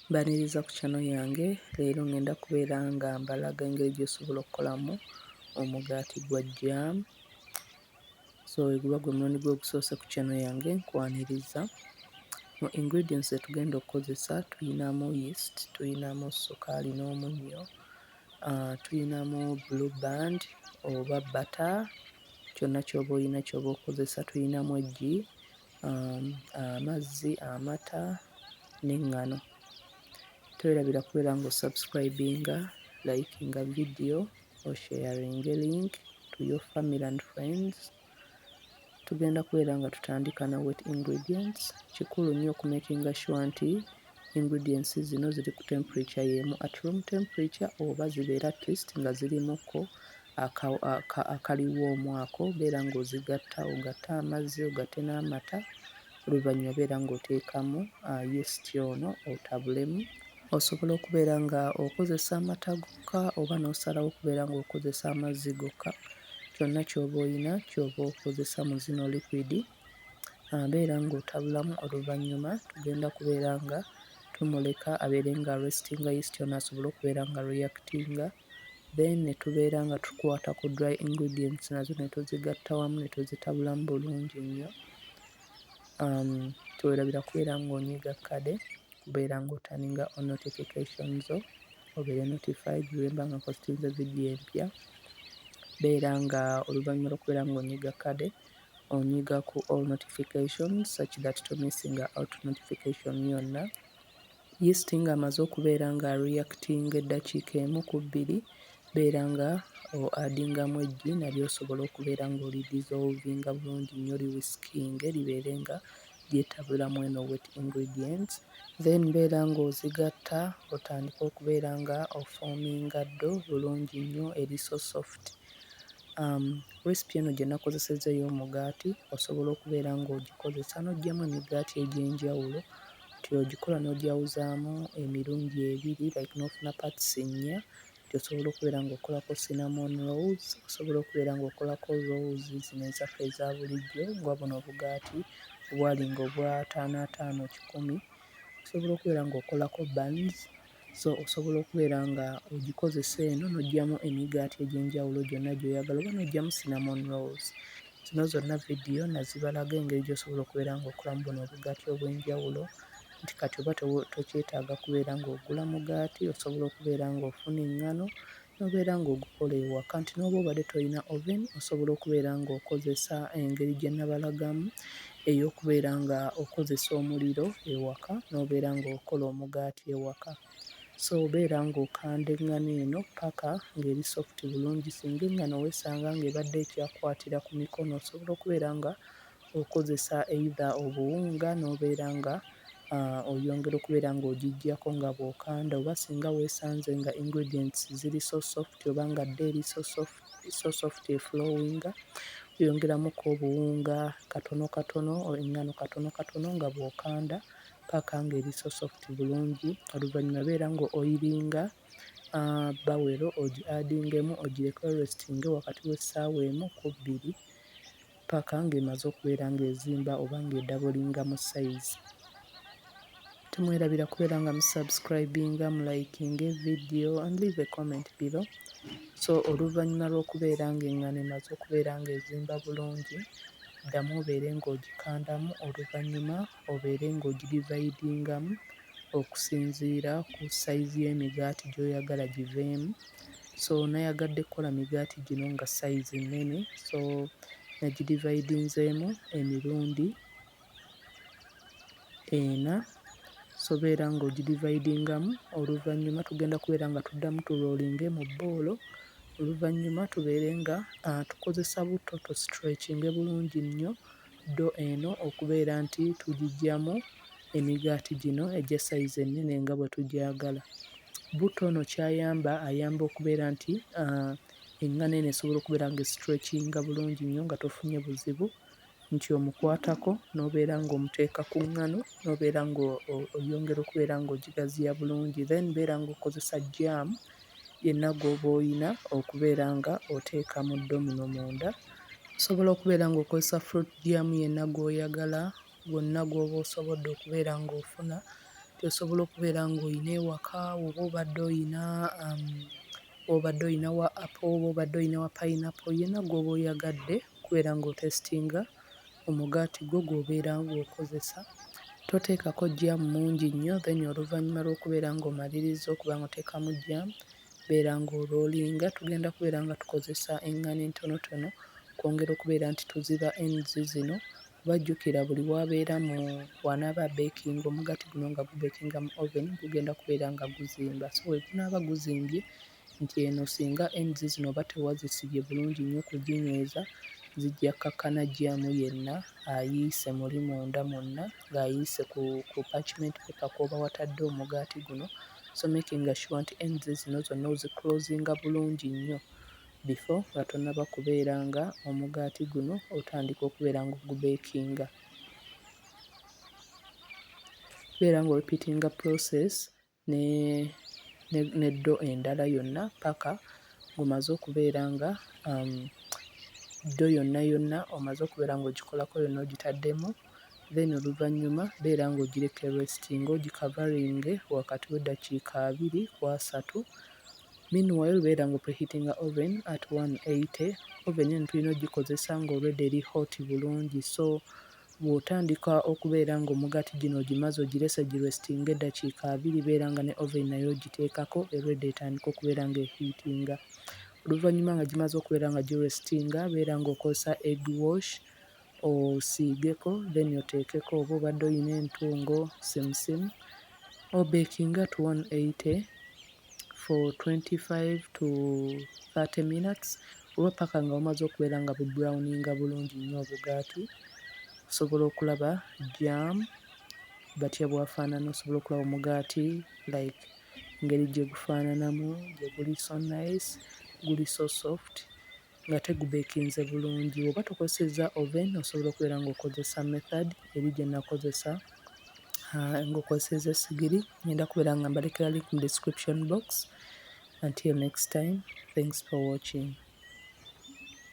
Mbaniriza ku channel yange leero ngenda kubeera nga mbalaga engeri gyosobola okukolamu omugaati gwa jam so weguba gwe mulundi gwo ogusoose ku channel yange nkwaniriza mu ingredients zetugenda okukozesa tuyinamu yeast tuyinamu sukaali n'omunnyo uh, tuyinamu blue band oba butter kyonna kyoba oyina kyoba okozesa tuyinamu eggi amazzi amata n'eŋŋano twerabira kubeera nga osubscribinga likinga vidiyo osharinge link to your family and friends tugenda kubeera nga tutandika na wet ingredients kikulu nnyo okumakinga sure nti ingredients zino ziri ku temperature y'emu at room temperature oba zibeera at least nga zirimuko akaliwo omwaka obeera ng'ozigatta ogatte amazzi ogatte n'amata oluvannyuma obeera ng'oteekamu yeast ono otabulemu. Osobola okubeera nga okozesa amata gokka oba n'osalawo okubeera ng'okozesa amazzi gokka kyonna ky'oba oyina ky'oba okozesa mu zino liquidi abeera ng'otabulamu oluvannyuma tugenda kubeera nga tumuleka abeere nga aresitinga yeast ono asobole okubeera nga reactinga. then ne tubeera nga tukwata ku dry ingredients nazo ne tuzigatta wamu ne tuzitabulamu bulungi nnyo um teweerabira kubeera ng'onyiga kkade kubeera ng'otaninga on notification zo obeere notified bwe mba nga npositinze vidiyo empya beera nga oluvannyuma lw'okubeera ng'onyiga kkade onyiga ku all notifications such that to missinga out notification yonna Yeast nga amaze okubeera nga reactinga eddakiika emu ku bbiri, beera nga o adingamu eggi nalyo osobola okubeera nga oli dissolvinga bulungi nnyo li whiskinge libeere nga lyetabula mweno wet ingredients. Then beera nga ozigatta otandike okubeera nga o forminga ddo bulungi nnyo eri so soft. Um, recipe eno gye nakozesezza ey'omugaati osobola okubeera nga ogikozesa n'oggyamu emigaati egy'enjawulo nti ogikola n'ogyawuzaamu emirundi ebiri like n'ofuna parts nnya nti osobola okubeera ng'okolako cinnamon rolls, osobola okubeera ng'okolako rolls zino ezaffe eza bulijjo nga buno obugaati obwalinga obw'ataano ataano kikumi, osobola okubeera ng'okolako buns So osobola okubeera nga ogikozesa eno n'oggyamu emigaati egy'enjawulo gyonna gy'oyagala oba n'oggyamu cinnamon rolls. Zino zonna vidiyo nazibalaga engeri gy'osobola okubeera ng'okolamu buno obugaati obw'enjawulo nti kati oba tokyetaaga kubeera ng'ogula mugaati osobola okubeera ng'ofuna eŋŋano N'obeera ng'ogukola ewaka nti n'oba obadde tolina oven osobola okubeera ng'okozesa engeri gye nabalagamu ey'okubeera ng'okozesa omuliro ewaka n'obeera ng'okola omugaati ewaka. So beera ng'okanda eŋŋano eno ppaka ng'eri soft bulungi singa eŋŋano weesanga ng'ebadde ekyakukwatira ku mikono osobola okubeera nga okozesa either obuwunga n'obeera nga ah, oyongera okubeera ng'ogiggyako nga bw'okanda oba singa weesanze nga ingredients ziri so soft oba nga dda eri so soft, so soft eflowinga oyongeramuko obuwunga katono katono eng'ano katono katono nga bw'okanda paka ng'eri so soft bulungi oluvannyuma beera ng'oyiringa ah, bawero ogi adingemu ogireke restinge wakati w'essaawa emu ku bbiri paka nga emaze okubeera nga ezimba oba nga edabolinga mu size temwerabira kubeera nga mu subscribinga mu likinga evidiyo and leave a comment below so oluvannyuma lw'okubeera nga engano emaze okubeera nga ezimba bulungi ddamu obeere ng'ogikandamu oluvannyuma obeere ng'ogidivayidingamu okusinziira ku sayizi y'emigaati gy'oyagala giveemu so nayagadde kukola migaati gino nga sayizi nnene so nagidivaidinzeemu emirundi ena sobeera ng'ogidivaidingamu oluvannyuma tugenda kubeera nga tuddamu tuloolinge mu bboolo oluvannyuma tubeere nga tukozesa butto tusitrekinge bulungi nnyo Ddo eno okubeera nti tugiggyamu emigaati gino egya sayizi ennene nga bwe tugyagala. Butto ono ky'ayamba ayamba okubeera nti eŋŋano eno esobola okubeera ng'esitwekinga bulungi nnyo nga tofunye buzibu nti omukwatako n'obeera ng'omuteeka ku ŋŋano n'obeera ng'oyongera okubeera ng'ogigaziya bulungi then beera ng'okozesa jjaamu. yenna gw'oba olina okubeera nga oteeka mu domino munda. Osobola okubeera nga okozesa fruit jam yenna gw'oyagala, gwonna gw'oba osobodde okubeera nga ofuna, gy'osobola okubeera nga olina ewaka, oba obadde olina am obadde olina wa apple, oba obadde olina wa pineapple, yenna gw'oba oyagadde okubeera nga otestinga. omugaati gwo gw'obeera ng'okozesa toteekako jjaamu mungi nnyo then oluvannyuma lw'okubeera ng'omalirizza okuba ng'oteekamu jjaamu beera ng'oroolinga. Tugenda kubeera nga tukozesa eŋŋano entonotono okwongera okubeera nti tuziba ends zino kuba jjukira buli w'abeera mu w'anaaba abeekinga omugaati guno nga gubeekinga mu oven gugenda kubeera nga guzimba so we gunaaba guzimbye... nti eno singa ends zino oba tewazisibye bulungi nnyo kuginyweza zijja kkakkana jjaamu yenna ayiise muli munda mwonna ng'ayiise ku ku parchment paper kw'oba watadde omugaati guno so making sure nti ends zino zonna oziclosinga bulungi nnyo before nga tonnaba kubeera nga omugaati guno otandika okubeera ng'ogubeekinga. Beera ng'orepeatinga process. ne ddo endala yonna ppaka ng'omaze okubeera nga ddo yonna yonna omaze okubeera ng'ogikolako yonna ogitaddemu then oluvannyuma beera ng'ogireka eresitinge ogikavaringe wakati w'eddakiika abiri ku asatu meanwhile beera nga opreheatinga oven at one eighty. Oven eno tulina ogikozesa nga already eri hot bulungi so. Bwotandika okubeera nga omugati gino ogimaze ogirese gi restinge edakiika abiri beera nga ne oven nayo ogiteekako eready etandike okubeera nga ehiitinga. Oluvanyuma nga gimaze okubeera nga gi restinga beera nga okozesa egg wash osiigeko then oteekeko oba obadde oyina entungo, simusimu obekinge at 180. for 25 to 30 minutes oba paka nga bumaze okubeera nga bu browninga bulungi nnyo obugaati osobola okulaba jam batya bwafaanana osobola okulaba omugaati like ngeri gye gufaananamu gye guli so nice guli so soft. nga tegubekinze bulungi bwoba tokozeseza oven osobola okubeera nga okozesa method eri gyenakozesa ah, nga okozeseza esigiri ngenda kubeera nga mbalekera link mu description box until next time thanks for watching